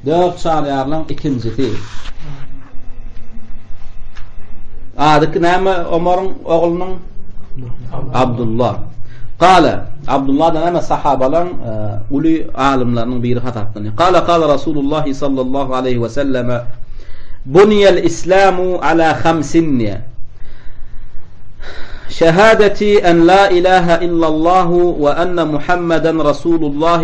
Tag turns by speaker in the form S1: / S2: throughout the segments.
S1: Dört çaryýarlaň ikinjisi. Adyky näme Omaryň oglunyň? Abdullah. Gala Abdullah da näme sahabalaň e, uly alymlarynyň biri hasaplanýar. Gala gala Rasulullah sallallahu aleyhi ve selleme Buniyel İslamu ala hamsinni Şehadeti en la ilahe illallahu ve enne Muhammeden Rasulullah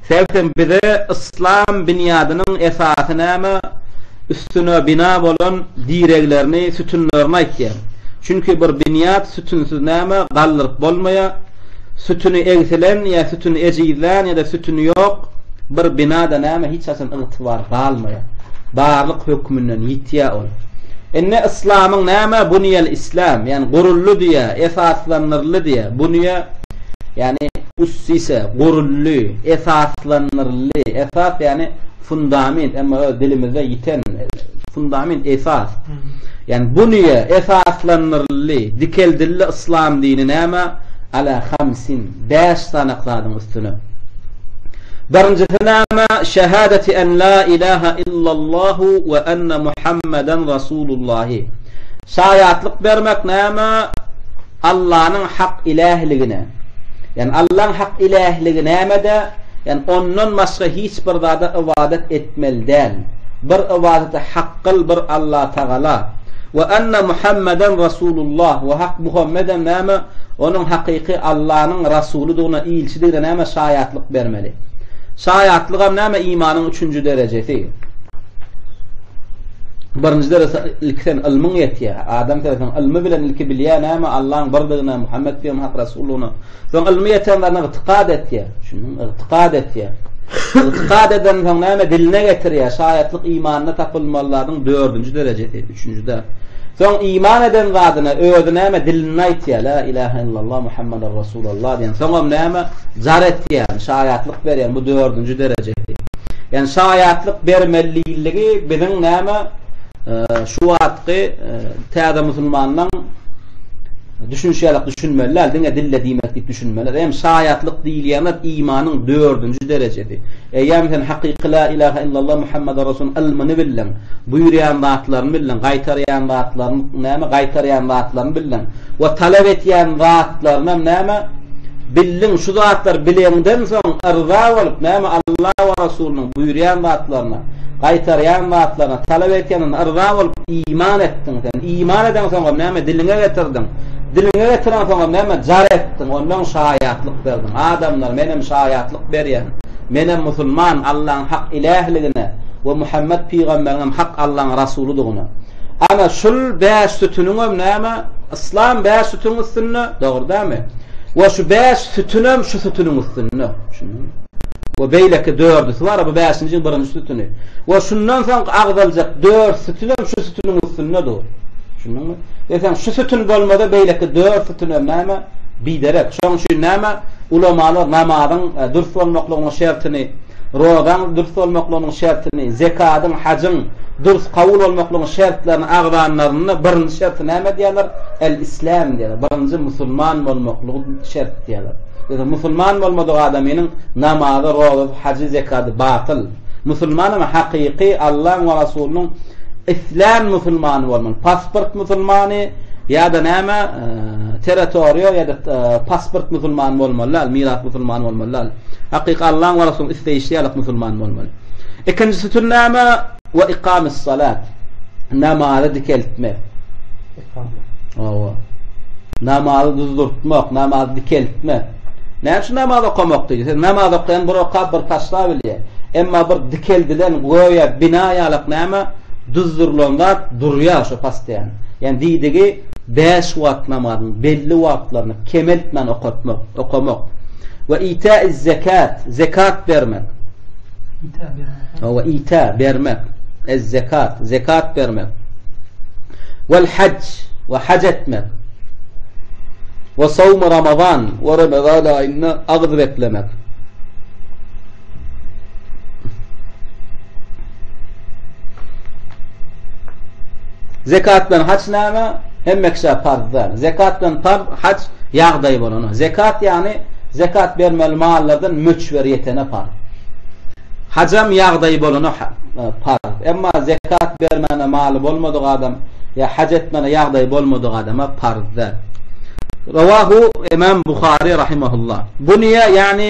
S1: Sebtem bize yslam binýadynyň esasy näme, üstüne bina bolan direglerini, sütünlerini aýtýar. Çünki bir binýat sütünsiz näme, galdyryp bolmaýar. Sütüni egsilen ýa sütüni ejizlän ýa-da sütüni ýok bir binada näme hiç haçan ygtybar galmaýar. Barlyk hökmünden ýitýär ol. Indi yslamyň näme bunýel islam, ýani guruldy diýýär, esaslandyryldy diýýär. Bunýe ýagny, üstüse, guruldy, esaslandyryldy, esas, ýagny, fundament, emma öz dilimizde ýiten, fundament, esas, ýagny, bunyýa esaslandyryldy, dikeldildi yslam dini näme, ala hamsin, bäş sanak zadyň üstüne. Birinjisi näme, şehadeti en la ilaha illallahu we enne Muhammeden Rasulullahi. Şaýatlyk bermek näme? Allanyň hak ilähligine, ýagny Allaň hak ilähligi nämede, ýagny Ondan başga hiç bir zada ybadat etmeli däl, bir ybadaty hak kyl bir Allatagala, we anna Muhammeden Rasulullah we hak Muhammedem näme onuň hakyky Allanyň Rasulydygyna, ilçidigine näme şaýatlyk bermeli. Şaýatlygam näme imanyň üçünji derejesi. Birinji derese ilki sen ylmyň ýetýär. Adam sözüniň ylmy bilen ilki bilýär näme Allaň birdigine, Muhammet pygam hak rasullygyna. Soň ylmy ýeten zada ygtykad etýär. Düşündiňmi? Ygtykad etýär. Ygtykad eden soň näme diline getirýär. Şaýatlyk imanda tapylmaly zadyň dördünji derejesi, üçünjide. Soň iman eden zadyna özi näme dilinde aýtýar. La ilaha illallah Muhammedur rasul. Suballa diýen soňam näme jar etýän şaýatlyk berýän bu dördünji derejesi. Ýani şaýatlyk bermeliligi biziň näme şu wagtky täze musulmanlaň düşünişi ýalak düşünmeli däl diňe dille diýmek diýip düşünmeli. Hem şaýatlyk diýilýän zat imanyň dördünji derejesi. Eýýäm sen hakyky la ilaha illallah Muhammad rasul ylmyny bildiň. Buýurýan zatlaryny bildiň, gaýtarýan zatlaryny näme gaýtarýan zatlaryny bildiň. we talap etýän zatlarynam näme? Bildiň, şu zatlar bileňden soň yrza bolup, näme Alla we Resulynyň buýurýan zatlaryna, gaýtarýan zatlaryna, talap etýänine yrza bolup, iman etdiň sen. Iman edeňsoňam näme? Diliňe getirdiň. Diliňe getireňsoňam näme? Jar etdiň, onnoň şaýatlyk berdiň. Adamlar, menem şaýatlyk berýän. Menem musulman, Allaň hak ilähligine we Muhammet pygamberiňem hak Allaň Rasulydygyna. Ana şul bäş sütüniňem näme? Yslam bäş sütüniň üstünde, dogry dämi? We şu bäş sütünem şu sütüniň üstünde. Düşündiňmi? we beýleki dördüsi bar, bu bäşinjiň birinji sütüni. We şundan soň agzaljak dört sütün hem şu sütüniň üstünde dur. Düşündiňmi? Ve sen şu sütün bolmada beýleki dört sütün hem näme? Biderek. Şoň üçin näme? Ulamalar namazyň e, dürs bolmaklygynyň şertini Rozaň dürs bolmaklygynyň şertini, zekadyň, hajyň dürs kabul bolmaklygynyň şertlerini agzanlarynda birinji şerti näme diýerler? El-islam diýerler. Birinji musulman bolmaklygy şert diýerler. Ýöne musulman bolmadyk adamynyň namazy, rozasy, hajy, zekady batyl. Musulman hem hakyky Allaň we Rasulynyň islän musulmany bolmaly. Pasport musulmany ýa-da näme, territoriýa ýa-da pasport musulmany bolmaly däl, miras musulmany bolmaly däl. Hakyky Allaň we Resulyň isleýşi ýaly musulman bolmaly. Ikinji sütünnama we ikamis salat. Namazy dikeltmek. Ikama. Owa. Namazy düzdürtmek, namazy dikeltmek. Näme üçin namaz okamak diýdi? Siz namaz okaýan bir okap bir taşla bilýär. Emma bir dikeldilen göýä bina ýalak näme düzdürlen zat durýar şu pasdýan. Ýani diýdigi Bäş wagt namazynyň belli wagtlaryny kemeltmän okatmak, okamak, we ita'iz-zekat, zekat bermek, we ita, bermek, ez-zekat, zekat bermek, wal-hajj, we haj etmek, we sawm-u ramazan, we ramazan aýynda agyz beklemek, Zekat bilen haç näme? Hemme kişä farz däl. Zekat bilen farz, haç ýagdaýy bolana. Zekat ýagny zekat bermeli mallardan möçber ýetene farz. Hajam ýagdaýy bolana farz. Emma zekat bermäne maly bolmadyk adam ýa haç etmäne ýagdaýy bolmadyk adama farz däl. Rawahu Imam Buhari rahimehullah. Bunýa ýagny